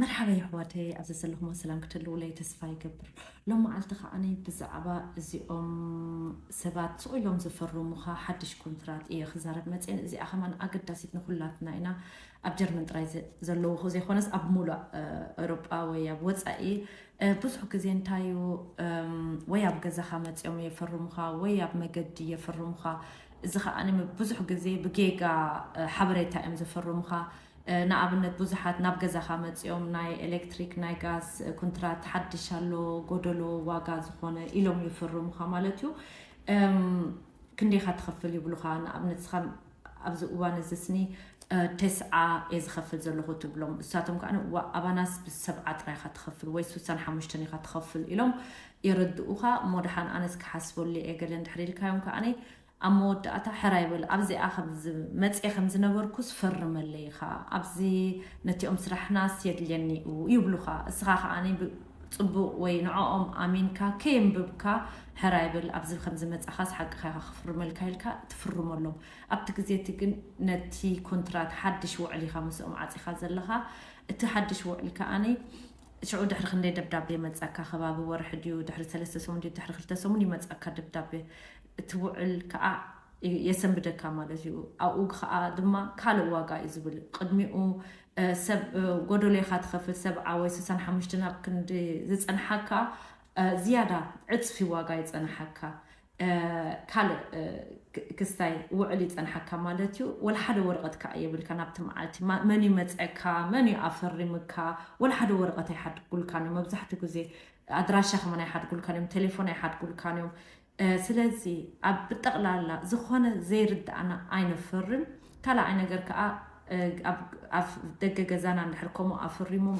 መርሓባ የሕዋተይ ኣብዚ ዘለኹሞ ሰላም ክትህልውለይ ተስፋ ይገብር ሎም መዓልቲ ከኣ ብዛዕባ እዚኦም ሰባት ሱቕ ኢሎም ዝፈርሙኻ ሓድሽ ኮንትራት እየ ክዛረብ መጽን እዚኣ ከማን ኣገዳሲት ንኹላትና ኢና ኣብ ጀርመን ጥራይ ዘለውኹ ዘይኮነስ ኣብ ሙሉእ ኤውሮጳ ወይ ኣብ ወጻኢ ብዙሕ ግዜ እንታይ እዩ ወይ ኣብ ገዛኻ መጽኦም የፈርሙኻ ወይ ኣብ መገዲ የፈርሙኻ እዚ ከኣ ብዙሕ ግዜ ብጌጋ ሓበሬታ እዮም ዘፈርሙኻ ንኣብነት ብዙሓት ናብ ገዛኻ መጺኦም ናይ ኤሌክትሪክ ናይ ጋዝ ኩንትራት ሓድሽ ኣሎ ጎደሎ ዋጋ ዝኾነ ኢሎም ይፍርሙኻ ማለት እዩ ክንደይኻ ትኸፍል ይብሉኻ ንኣብነት ስኻ ኣብዚ እዋን እዚ ስኒ ተስዓ እየ ዝኸፍል ዘለኹ ትብሎም እሳቶም ከዓ እዋ ኣባናስ ብሰብዓ ጥራይ ኢኻ ትኸፍል ወይ ስሳን ሓሙሽተን ኢኻ ትኸፍል ኢሎም የረድኡኻ እሞ ደሓን ኣነስ ክሓስበሉ እየ ገለ እንድሕር ኢልካዮም ከዓ ኣብ መወዳእታ ሕራይ በል ኣብዚኣ ከምዚ መጽየ ከም ዝነበርኩስ ፈርመለይ ኢኻ ኣብዚ ነቲኦም ስራሕናስ የድልየኒ'ዩ ይብሉኻ እስኻ ከኣ ብ ጽቡቕ ወይ ንዖኦም ኣሚንካ ከየንብብካ ሕራይ በል ኣብዚ ከም ዝመጻኻስ ሓቅኻ ኢኻ ክፍርመልካ ኢልካ ትፍርመሎም ኣብቲ ግዜ እቲ ግን ነቲ ኮንትራት ሓድሽ ውዕል ኢኻ ምስኦም ዓጺኻ ዘለኻ እቲ ሓድሽ ውዕል ከኣ ሽዑ ድሕሪ ክንደይ ደብዳቤ ይመጽኣካ ከባቢ ወርሒ ድዩ ድሕሪ ሰለስተ ሰሙን ድዩ ድሕሪ ክልተ ሰሙን ይመጽኣካ ደብዳቤ እቲ ውዕል ከኣ የሰንብደካ ማለት እዩ። ኣብኡ ከኣ ድማ ካልእ ዋጋ እዩ ዝብል። ቅድሚኡ ሰብ ጎደሎ ኢኻ ትኸፍል፣ ሰብዓ ወይ ስሳን ሓሙሽተን ኣብ ክንዲ ዝጸንሓካ ዝያዳ ዕጽፊ ዋጋ ይጸንሓካ። ካልእ ክስታይ ውዕል ይጸንሓካ ማለት እዩ። ወላ ሓደ ወረቐት ከኣ የብልካን ኣብቲ መዓልቲ። መን እዩ መጸካ፣ መን እዩ ኣፈሪምካ፣ ወላ ሓደ ወረቐት ኣይሓድጉልካን እዮም። መብዛሕትኡ ግዜ ኣድራሻ ከማን ኣይሓድጉልካን እዮም፣ ቴሌፎን ኣይሓድጉልካን እዮም። ስለዚ ኣብ ብጠቕላላ ዝኾነ ዘይርድኣና ኣይነፍርም። ካልኣይ ነገር ከኣ ኣብ ደገ ገዛና እንድሕር ከምኡ ኣፍሪሞም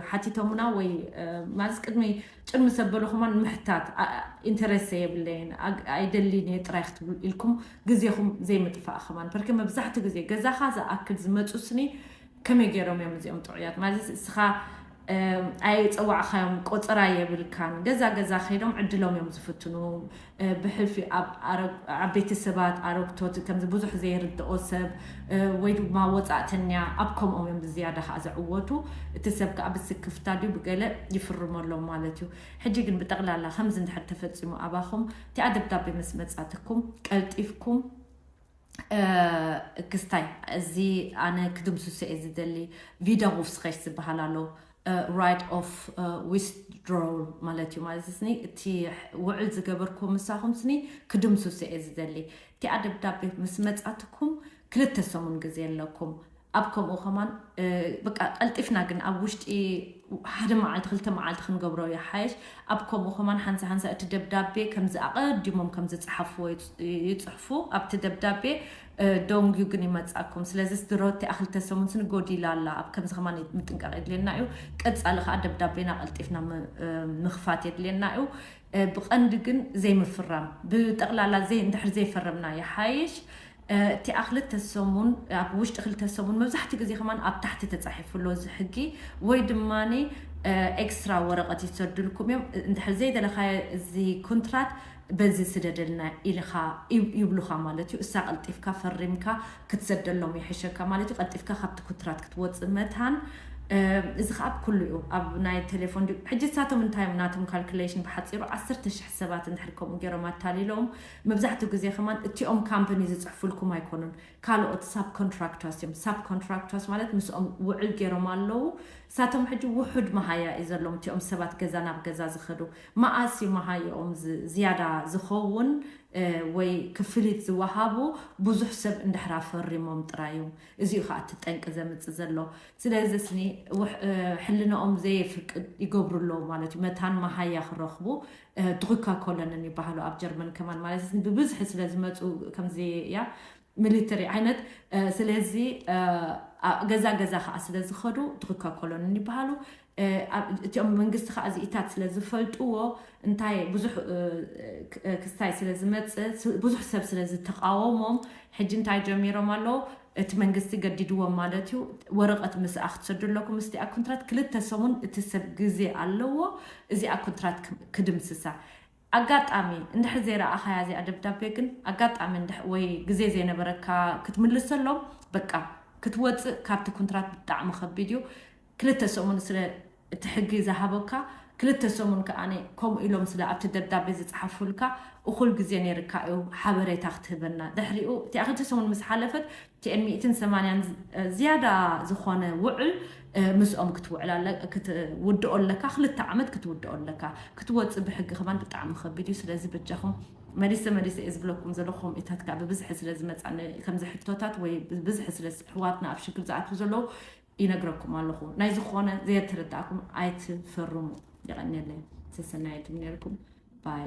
ሓቲቶምና ወይ ማለት ቅድሚ ጭር ምስ ኣበልኹማ ንምሕታት ኢንተረስት የብለይን ኣይደሊን እየ ጥራይ ክትብሉ ኢልኩም ግዜኹም ዘይምጥፋእ ከማን ፐርከ መብዛሕትኡ ግዜ ገዛኻ ዝኣክል ዝመፁ ስኒ ከመይ ገይሮም እዮም እዚኦም ጥዑያት ማለት እስኻ ኣየፀዋዕኻዮም ቆፅራ የብልካን ገዛ ገዛ ከይዶም ዕድሎም እዮም ዝፍትኑ ብሕልፊ ኣብ ቤተሰባት ኣረግቶት ከምዚ ብዙሕ ዘይርድኦ ሰብ ወይ ድማ ወፃእተኛ ኣብ ከምኦም እዮም ብዝያዳ ከዓ ዘዕወቱ እቲ ሰብ ከዓ ብስክፍታ ድዩ ብገለ ይፍርመሎም ማለት እዩ ሕጂ ግን ብጠቕላላ ከምዚ እንድሕር ተፈፂሙ ኣባኹም እቲኣ ደብዳቤ ምስ መፃትኩም ቀልጢፍኩም ክስታይ እዚ ኣነ ክድምስሶ እየ ዝደሊ ቪዳ ውፍስኸሽ ዝበሃል ኣሎ ራይት ኦፍ ዊስድሮል ማለት እዩ ማለት ስኒ እቲ ውዕል ዝገበርኩ ምሳኹም ስኒ ክድምስሶ እየ ዝደሊ እቲኣ ደብዳቤ ምስ መፃትኩም ክልተ ሰሙን ግዜ ኣለኩም ኣብ ከምኡ ከማን በቃ ቀልጢፍና ግን ኣብ ውሽጢ ሓደ መዓልቲ ክልተ መዓልቲ ክንገብሮ ይሓይሽ። ኣብ ከምኡ ከማን ሓንሳ ሓንሳ እቲ ደብዳቤ ከምዚ ኣቐዲሞም ከም ዝጸሓፍዎ ይጽሕፉ ኣብቲ ደብዳቤ ደንጉዩ ግን ይመጻኩም። ስለዚስ ድሮ እቲኣ ክልተ ሰሙን ስኒ ጎዲላ ኣላ። ኣብ ከምዚ ከማን ምጥንቃቕ የድልየና እዩ። ቀጻሊ ከኣ ደብዳቤና ቀልጢፍና ምኽፋት የድልየና እዩ። ብቀንዲ ግን ዘይምፍራም ብጠቅላላ ዘይ እንድሕር ዘይፈረምና ይሓይሽ እቲኣ ክልተ ሰሙን ኣብ ውሽጢ ክልተ ሰሙን መብዛሕትኡ ግዜ ከማን ኣብ ታሕቲ ተጻሒፉ ኣሎ እዚ ሕጊ ወይ ድማ ኤክስትራ ወረቀት ይሰዱልኩም እዮም እንድሕር ዘይደለካዮ እዚ ኩንትራት በዚ ስደደልና ኢልኻ ይብሉኻ ማለት እዩ እሳ ቀልጢፍካ ፈሪምካ ክትሰደሎም ይሕሸካ ማለት እዩ ቀልጢፍካ ካብቲ ኩትራት ክትወጽእ መታን እዚ ከዓ ብ ኩሉ እዩ ኣብ ናይ ቴሌፎን ድዩ ሕጂ ንሳቶም እንታይ እዮም ናቶም ካልኩሌሽን ብሓጺሩ ዓሰርተ ሽሕ ሰባት እንድሕር ከምኡ ገይሮም ኣታሊሎም መብዛሕትኡ ግዜ ከማን እቲኦም ካምፐኒ ዝጽሕፉልኩም ኣይኮኑን ካልኦት ሳብ ኮንትራክተርስ እዮም ሳብ ኮንትራክተርስ ማለት ምስኦም ውዕል ገይሮም ኣለዉ ንሳቶም ሕጂ ውሑድ መሃያ እዩ ዘሎም እቲኦም ሰባት ገዛ ናብ ገዛ ዝኸዱ መኣስ እዩ መሃይኦም ዝያዳ ዝኸውን ወይ ክፍሊት ዝወሃቡ ብዙሕ ሰብ እንድሕር ኣፈሪሞም ጥራይ እዩ። እዚ'ዩ ከኣ እቲ ጠንቂ ዘምጽእ ዘሎ። ስለዚ ስኒ ሕልንኦም ዘየፍቅድ ይገብሩ ኣለዉ ማለት እዩ። መታን መሃያ ክረኽቡ ድሩካ ኮለንን ይበሃሉ ኣብ ጀርመን ከማን ማለት እዩ። ብብዝሒ ስለ ዝመጹ ከምዚ እያ ሚሊተሪ ዓይነት ስለዚ ገዛ ገዛ ከኣ ስለ ዝኸዱ ድሩካ ኮለንን ይበሃሉ። እቲኦም መንግስቲ ከኣ እዚኢታት ስለ ዝፈልጥዎ እንታይ ብዙሕ ክስታይ ስለ ዝመጽእ ብዙሕ ሰብ ስለ ዝተቃወሞም ሕጂ እንታይ ጀሚሮም ኣለዉ እቲ መንግስቲ ገዲድዎም ማለት እዩ ወረቀት ምስኣ ክትሰዱ ኣለኩም ምስቲኣ ኩንትራት ክልተ ሰሙን እቲ ሰብ ግዜ ኣለዎ እዚኣ ኩንትራት ክድምስሳ ኣጋጣሚ እንድሕር ዘይረኣኻያ እዚኣ ደብዳቤ ግን ኣጋጣሚ እንድሕ ወይ ግዜ ዘይነበረካ ክትምልሰሎም በቃ ክትወጽእ ካብቲ ኩንትራት ብጣዕሚ ከቢድ እዩ ክልተ ሰሙን ስለ እቲ ሕጊ ዝሃበካ ክልተ ሰሙን ከኣ ከምኡ ኢሎም ስለ ኣብቲ ደብዳቤ ዝጽሓፉልካ እኹል ግዜ ነይርካ እዩ ሓበሬታ ክትህበና ድሕሪኡ እቲኣ ክልተ ሰሙን ምስ ሓለፈት ቲኤን ሚእትን ሰማንያን ዝያዳ ዝኾነ ውዕል ምስኦም ክትውዕል ክትውድኦ ኣለካ ክልተ ዓመት ክትውድኦ ኣለካ ክትወፅእ ብሕጊ ከማን ብጣዕሚ ከቢድ እዩ ስለዚ በጃኹም መሊሰ መሊሰ እየ ዝብለኩም ዘለኹ ከምኢታት ከዓ ብብዝሒ ስለ ዝመፃ ከምዚ ሕቶታት ወይ ብብዝሒ ስለ ኣሕዋትና ኣብ ሽግር ዝኣትዉ ዘለዉ ይነግረኩም ኣለኹ ናይ ዝኾነ ዘየተረዳእኩም ኣይትፈርሙ ይቐኒለይ ሰሰናየትም ነርኩም ባይ